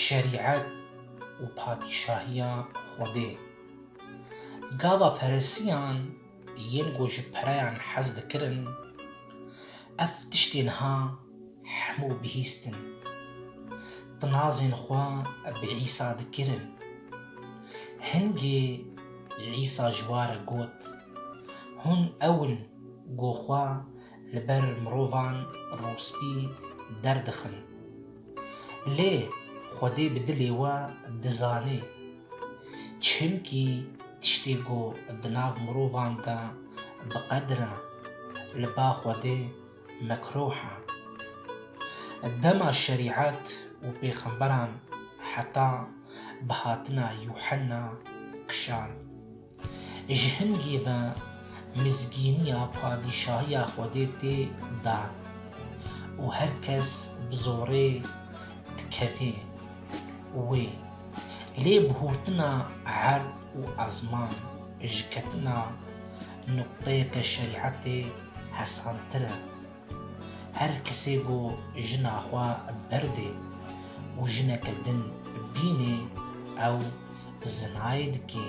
Şerîet û padîşahiya Xwedê. Gava feresiyan yên ku ji pereyan hez dikirin, ev tiştên ha hemû bihîstin. Tinazên xwe bi Îsa dikirin. Hingê Îsa ji wa re got, Hûn ew in ku xwe li ber mirovan rûspî derdixin. Lê Xwedê bi dilê we dizanê. Çimkî tiştê ku di nav mirovan de bi qedir e, li ba Xwedê mekruh e. Dema şerîet û pêxemberan heta bi hatina Yuhenna kişand. Ji hingê ve mizgîniya padîşahiya Xwedê tê dan û her kes bi zorê dikevê wê. Lê bi hûrtina erd û ezman ji ketina nuqteyeke şerîetê hesantir e. Her kesê ku jina xwe berdê û jineke din bînê ew zinayê dikê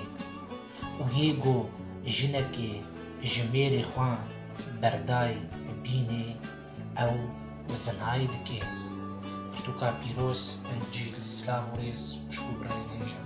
û yê ku jinekê ji mêrê xwe berdayî bînê ew zinayê dikê. Pirtûka pîroz Encîl Silav û rêz xwişk û birayên hê jin.